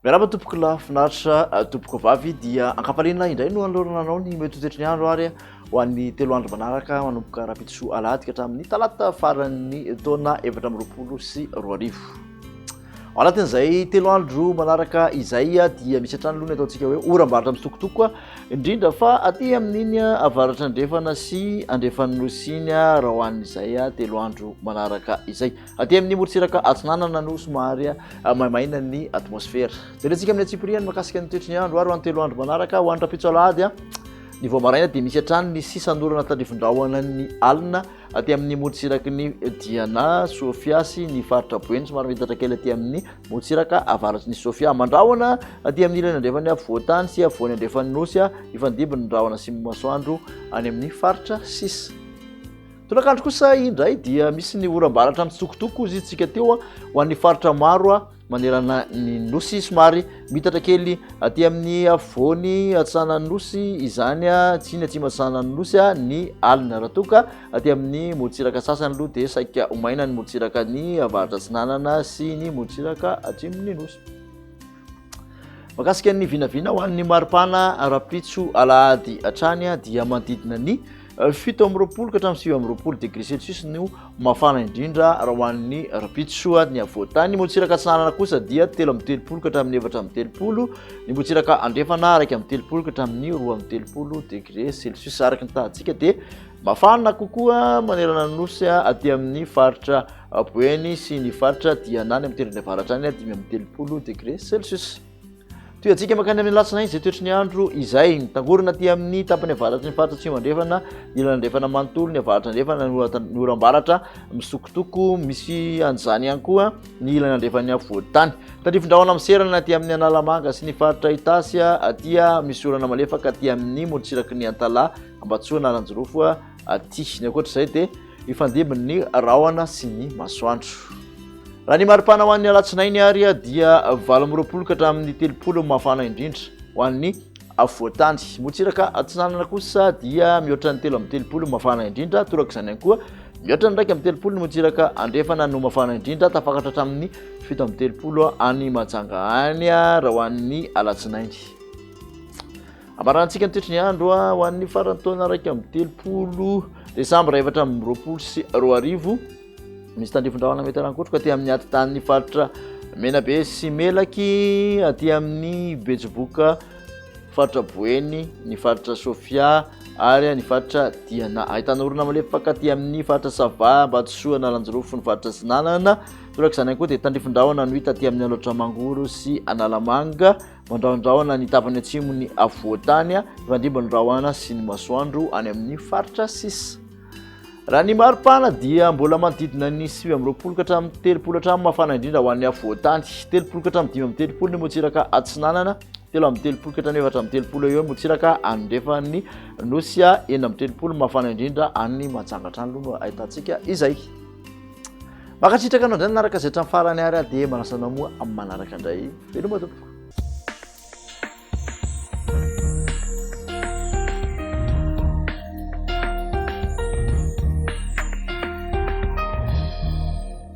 Miarahaba tompoko lahy finaritra eh, tompoko vavy dia ankafaliana indray no anolorana anao ny mety toetry ny andro ary ho an'ny telo andro manaraka manomboka rahampitso alahady ka hatramin'ny talata faran'ny taona efatra amby roapolo sy roa arivo. Ao anatin'izay telo andro manaraka izay dia misy hatrany aloha ny ataontsika hoe oram-barotra misokotoko indrindra fa aty amin'iny avaratra andrefana sy andrefan'ny nosy iny raha ho an'izay telo andro manaraka izay. Aty amin'ny morontsiraka atsinanana no somary maimaina ny atmosfera. Jerentsika amin'ny antsipiriany makasika ny toetry ny andro ary ho an'ny telo andro manaraka ho any rahampitso alahady ny vao maraina dia misy hatrany ny sisan'orana tandrifin-drahona ny alina Aty amin'ny morontsiraky ny Diana, Sofia sy ny faritra Boeny somary miitatra kely aty amin'ny morontsiraka avaratry ny Sofia. Mandrahona aty amin'ny ilany andrefan'ny afovoan-tany sy afovoany andrefan'ny nosy hifandimby ny rahona sy ny masoandro any amin'ny faritra sisa. Tolakandro kosa indray dia misy ny oram-baratra mitsokotoko hoy isika teo ho an'ny faritra maro manerana ny nosy somary mitatra kely aty amin'ny afovoany atsanan'ny nosy izany a tsy ny atsimo atsanan'ny nosy a ny alina raha toa ka aty amin'ny morontsiraka sasany aloha dia saika ho maina ny morontsiraka ny avaratra atsinanana sy ny morontsiraka atsimon'ny nosy makasika ny vinavina ho an'ny maripana ara-pitso alahady hatrany dia manodidina ny Fito amby roapolo ka hatramin'ny sivy amby roapolo degré celsius no mafana indrindra raha ho an'ny rapitso ary ny afovoantany. Ny motsiraka atsinanana kosa dia telo amby telopolo ka hatramin'ny efatra amby telopolo, ny motsiraka andrefana iraika amby telopolo ka hatramin'ny roa amby telopolo degré celsius. Araka ny tahantsika dia mafana kokoa manerana ny nosy aty amin'ny faritra Boeny sy ny faritra Diana any amin'ny tendrony avaratra any, dimy amby telopolo degré celsius. Tohantsika mankany amin'ny alatsinainy izay toetry ny andro izay. Mitangorona aty amin'ny tapany avaratry ny faritra atsimo andrefana, ilany andrefana manontolo, ny avaratra andrefana, ny oram-baratra misokotoko. Misy an'izany ihany koa ny ilany andrefan'ny afovoan-tany. Tandrifindrahona miserana aty amin'ny Analamanga sy ny faritra Itasy aty misy orana malefaka aty amin'ny morontsiraky ny Antalaha, Ambatsoa, Analanjirofo aty. Ny ankoatra izay dia Hifandimby ny rahona sy ny masoandro. Raha ny maripana ho an'ny alatsinainy ary dia valo amby roapolo ka hatramin'ny telopolo mafana indrindra ho an'ny afovoantany. Motsiraka atsinanana kosa dia mihoatra ny telo amby telopolo mafana indrindra, torak'izany ihany koa mihoatra ny iraika amby telopolo ny motsiraka andrefana no mafana indrindra, tafakatra hatramin'ny fito amby telopolo any Majanga any raha ho an'ny alatsinainy. Hamaranantsika ny toetry ny andro ho an'ny faran'ny taona iraika amby telopolo desambra efatra amby roapolo sy roa arivo. Misy tandrifin-drahona mety harankotroka aty amin'ny atidanin'ny faritra Menabe sy Melaky, aty amin'ny Betsiboka, faritra Boeny, ny faritra Sofia ary ny faritra Diana. Ahitana orona malefaka aty amin'ny faritra Sava, Ambatosoa, Analanjirofo, ny faritra Sinanana. Torak'izany ihany koa dia tandrifin-drahona no hita aty amin'ny Alaotra Mangoro sy Analamanga. Mandrahondrahona ny tapany atsimon'ny afovoan-tany hifandimby ny rahona sy ny masoandro any amin'ny faritra sisa. Raha ny mari-pana dia mbola manodidina ny sivy amby roapolo ka hatramin'ny telopolo hatramin'ny mafana indrindra ho an'ny afovoan-tany, telopolo ka hatramin'ny dimy amby telopolo ny motsiraka atsinanana, telo amby telopolo ka hatramin'ny efatra amby telopolo eo eo ny motsiraka anondrefan'ny nosy, enina amby telopolo mafana indrindra any Manjangatrano aloha no ahitantsika izay. Makasitraka anao indray nanaraka izay hatramin'ny farany ary aho dia manasa anao moa amin'ny manaraka indray. Veloma tompoko.